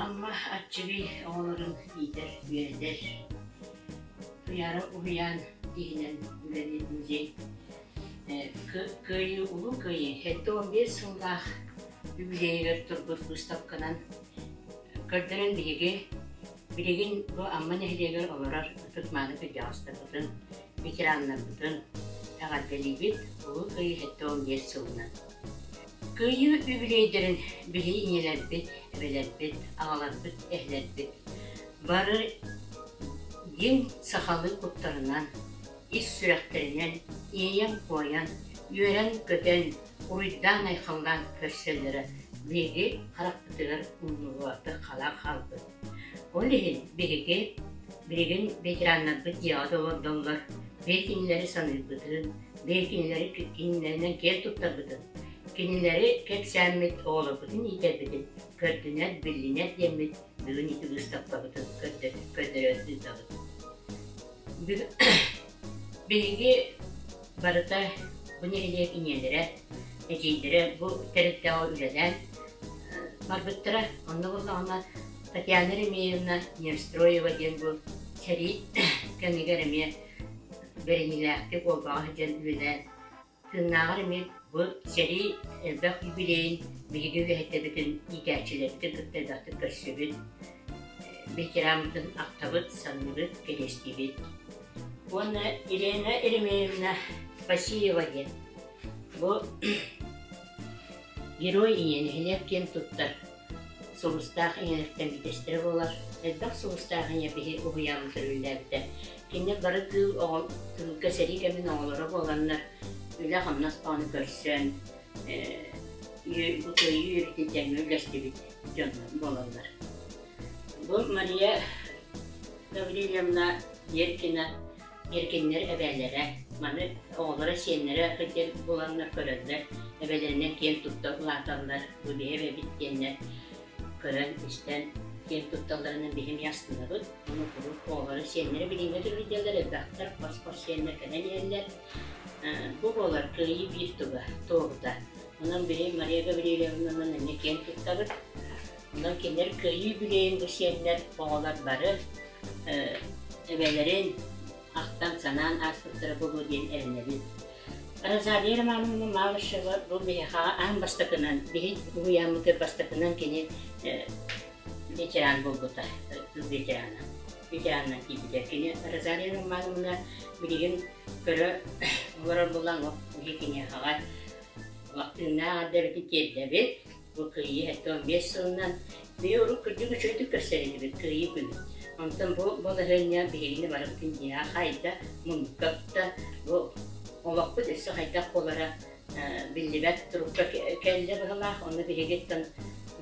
Амма Аччыгый оҕолорун иитэр, үөрэтэр Туйаара уһуйаан тиһинэн үлэлиир музей Кыайыы Улуу Кыайыы сэттэ уон биэс сыллаах юбилейыгар турбут выставканан көрдөрөн биһиги билигин бу Амма нэһилиэгэр олорор ытык-мааны кырдьаҕастарбытын, ветераннарбытын эҕэрдэлиибит Улуу Кыайыы сэттэ уон биэс сылынан Кыайыы үбүлүөйдэрин билии ийэлэрбит, эбэлэрбит, аҕаларбыт, эһэлэрбит бары дьиҥ сахалыы куттарынан, ис сүрэхтэринэн иэйэн-куойан, үөрэн-көтөн, уруйдаан-айхаллаан көрсөллөрө биһиги харахпытыгар умнуллубатык халаан хаалбыт. Ол иһин биһиги билигин ветераннарбыт дьиэҕэ да олордоллор, биир кинилэри саныырбытын, биир кинилэри кинилэринэн киэн туттарбытын, кинилэри кэпсээммит оҕолорбутун иитэрбитин көрдүнэр, биллинэр диэммит бүгүн ити быыстапкабытын көрдөрө сыытабыт. Бүгүн Биһиги барыта бу нэһилиэк ийэлэрэ, эдьиийдэрэ бу тэрилтэҕэ үлэлээн барбыттара. Онно буоллаҕына Татьяна Ремеевна Невстроева диэн бу сэрии кэмигэр эмиэ бэриниилээхтик уолбаҕа сылдьан үлэлээн Тыыннааҕар эмиэ бу сэрии элбэх юбилейын биһиги үөһэттэбитин иитээччилэрбитин кытта элбэхтик көрсүбүт, ветераммытын ахтабыт, саныыбыт, кэриэстиибит. Уонна Елена Еремеевна Фасеева диэн бу Герой иньэ нэһилиэк диэн туттар Сулустаах ийэлэртэн үтэстэрэ буолар, элбэх сулустаах ийэ биһи уһуйаан көрүллээбитэ. Кинилэр бары кыыл оҕо кыылга сэрии кэмин оҕолоро буоланнар, үлэ-хамнас оҕону көрсөн, бу кыайыы үөрэтии тэҥҥэ үллэстибит дьон буолаллар. Бу Мария Гаврильевна Деркина Эргиннэр эбээлэрэ, маны оҕолоро-сиэннэрэ диэн буланнар көрөллөр, эбэлэринэн киэн тутта улааталлар, бу биһиэп эбит диэннэр көрөн-истэн киэн тутталларынан биһи эмиэ астынабыт. Ону куруук оҕолоро-сиэннэрэ билиҥҥэ түргүдүөллэр элбэхтэр, хос-хос сиэннэр кэлэн иһэллэр. Бу буолар кыайыы биир туга, туоһута. Онон биһи Мария Гаврильевнанан эмиэ киэн туттабыт. Онон кинилэр кыайыы үбүлүөйүн бу сиэннэр, оҕолор бары эбэлэрин ахтан-санаан ааспыттара буолуо диэн эрэнэбин. Розалия Романовна Малышева бу биһиэхэ аан бастакынан, биһиги уһуйааммытыгар бастакынан кини ветеран буолбута, тыл ветерана, ветеранынан киирбитэ. Кини Розалия Романовна билигин көрө олорор булаҥ, биһи киниэхэҕэ тыыннаах эрдэбитин тиэрдэбит. Бу кыайыы эрдэ уон биэс сылынан бэйэ урут кырдьык үчүгэйдик көрсөр этибит кыайыы күнүн. Онтон бу балаһыанньа биһигини барыбытын дьиэҕэ хаайда, муннукка тутта, бу олохпут өссө хайдах буолара биллибэт турукка кэллэ быһылаах. Ону биһигиттэн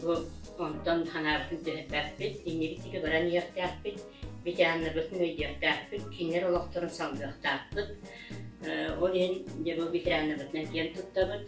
бу онтон ханаабытын түһэрбэппит, иннибит диги баран иһиэхтээхпит, битианнабытын өйдүөхтээхпит, кинилэр олохторун салгыахтаахпыт. Ол иһин дьэ бу битианнабытынан киэн туттабыт,